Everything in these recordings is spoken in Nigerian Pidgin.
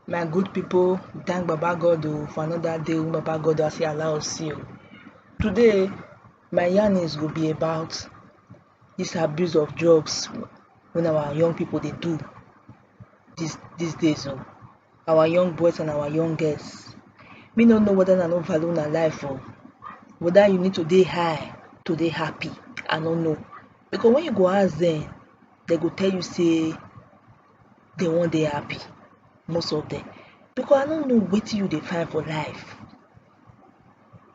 My good people, we thank Baba God o for another day wey Baba God has still allow us see o. Today, my yarnings go be about this abuse of drugs when our young people dey do this these days o. Our young boys and our young girls. Me no know whether una no value una life o, whether you need to dey high to dey happy, I no know. Because when you go ask them, they go tell you say dey wan dey happy most of dem because I no know wetin you dey find for life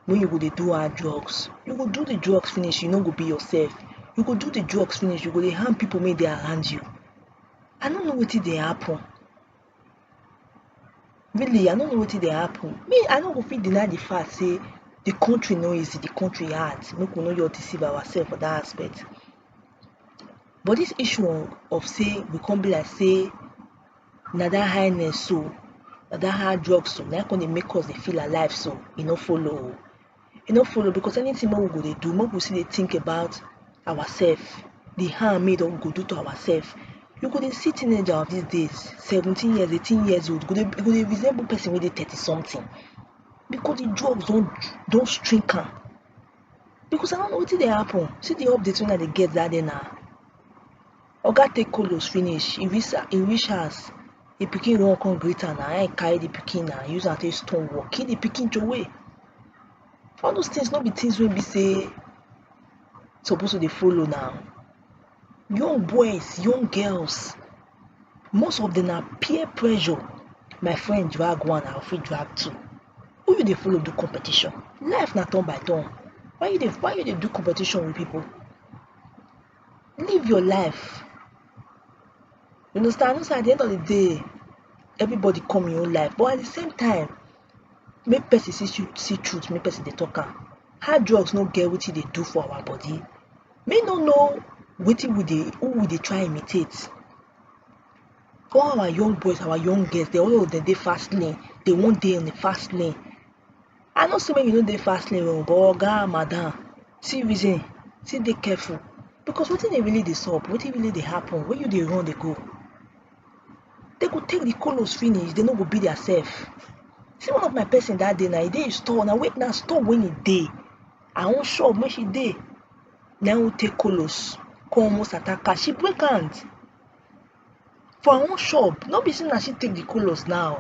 wey you go dey do hard drugs you go do the drugs finish you no go be yourself you go do the drugs finish you go dey harm people wey dey around you I no know wetin dey happen really I no know wetin dey happen me I no go fit deny the fact say the country no easy the country hard make we no just deceive ourselves for that aspect but dis issue of of sey go come be like sey na dat highness so na dat hard drugs so na im come dey make us dey feel alive so e no follow oh e no follow because anything wey we go dey do make we still dey think about ourself the harm wey e don go do to ourself you go dey see teenager of these days seventeen years eighteen years old go dey go dey resemble person wey dey thirty something because the drugs don don string am because I no know wetin dey happen see the update wey I dey get that day na oga take kolos finish e reach e reach house the pikin run come greet am na him carry the pikin na use am take stone work kill the pikin throway all those things no be things wey be say suppose to dey follow now young boys young girls most of them na peer pressure my friend drag one I fit drag two who you dey follow do competition life na turn by turn why you dey why you dey do competition with people live your life you understand know say at the end of the day everybody come im own life but at the same time make person see tru- see truth make person dey talk am hard drugs no get wetin e dey do for our body me no know wetin we dey who we dey try imitate all our young boys our young girls dem all of dem dey fast lane dey wan dey on the fast lane i know say make you no dey fast lane o but oga madam see reason see dey careful because wetin dey really dey sup wetin really dey happen when you dey run dey go they go take the colos finish they no go be their self see one of my person that day na e dey store na wait na store when e dey i wan shop make she dey na who take colos come almost attack her she break hand for her own shop no be say na she take the colos now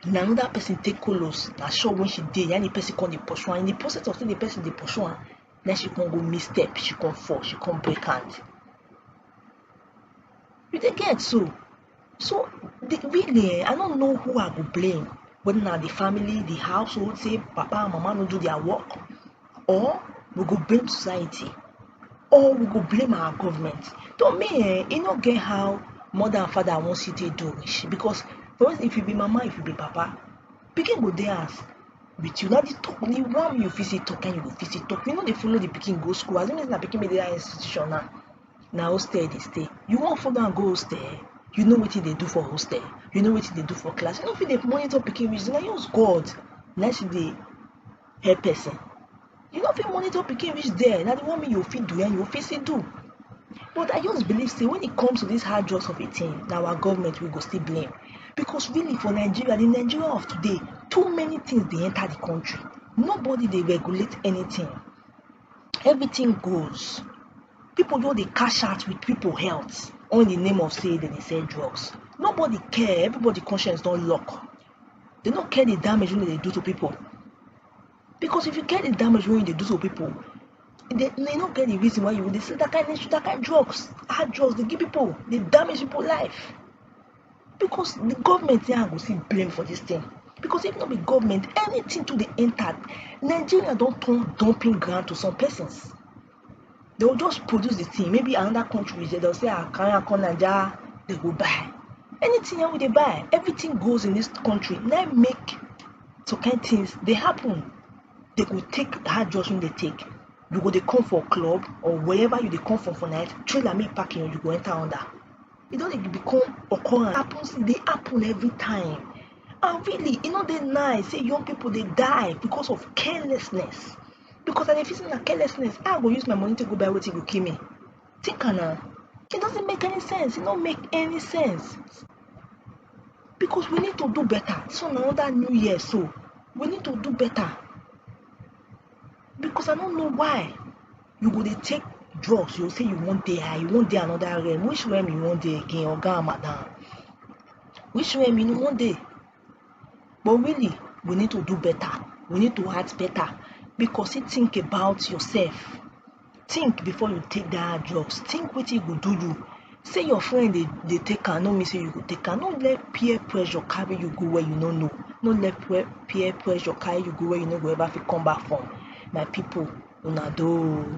na another person take colos na shop wey she dey na im the person come dey pursue am in the process of say the person dey pursue am na she come go miss step she come fall she come break hand you dey get so so the really um i no know who i go blame whether na the family the household say papa and mama no do their work or we go blame society or we go blame our government to me um e no get how mother and father wan still take do rich because for instance if you be mama if you be papa pikin go dey house with you na the talk the one you fit still talk na you go fit still talk you no dey follow the pikin go school as e be say na pikin wey dey that institution now na hostel e dey stay you wan follow am go hostel you know wetin dey do for hostel you know wetin dey do for class you no fit dey monitor pikin reach there na just God na him still dey help person you no fit monitor pikin reach there na the one make you fit do and you fit still do but i just believe say when it comes to this hard drugs of a thing na our government we go still blame because really for nigeria the nigeria of today too many things dey enter the country nobody dey regulate anything everything goes people just dey cash out with people health all in the name of say dem dey sell drugs nobody care everybody conscience don lock they no care the damage wey they do to people because if you care the damage wey you dey do to people they, they no get the reason why you dey sell that kind of that kind of drugs hard drugs dey give people dey damage people life because the government here go see blame for this thing because if no be government anything to dey enter nigeria don turn dumping ground to some persons They will just produce the thing. Maybe another country, they'll say, ah, carry am come Naija, they go buy. Anything wey they buy, everything goes in this country. Now make some kind things they happen. They go take hard drugs when they take. You go they come for club or wherever you they come from for night, trailer make parking, you go enter under. It don't even become occurrence. It happens, they happen every time. And really, you know, they nice. Say young people they die because of carelessness. because i dey feel say na carelessness how i go use my money take go buy wetin go kill me think am na it doesn't make any sense it no make any sense because we need to do better this one na another new year so we need to do better because i no know why you go dey take drugs you go say you wan dey high you wan dey another realm which realm you wan dey again oga and madam which realm you wan dey but really we need to do better we need to act better because you think about yourself think before you take that drugs think wetin e go do you say your friend dey dey take am no mean say you go take am no let peer pressure carry you go where you no know no let peer peer pressure carry you go where you no go ever fit come back from my people una do oo.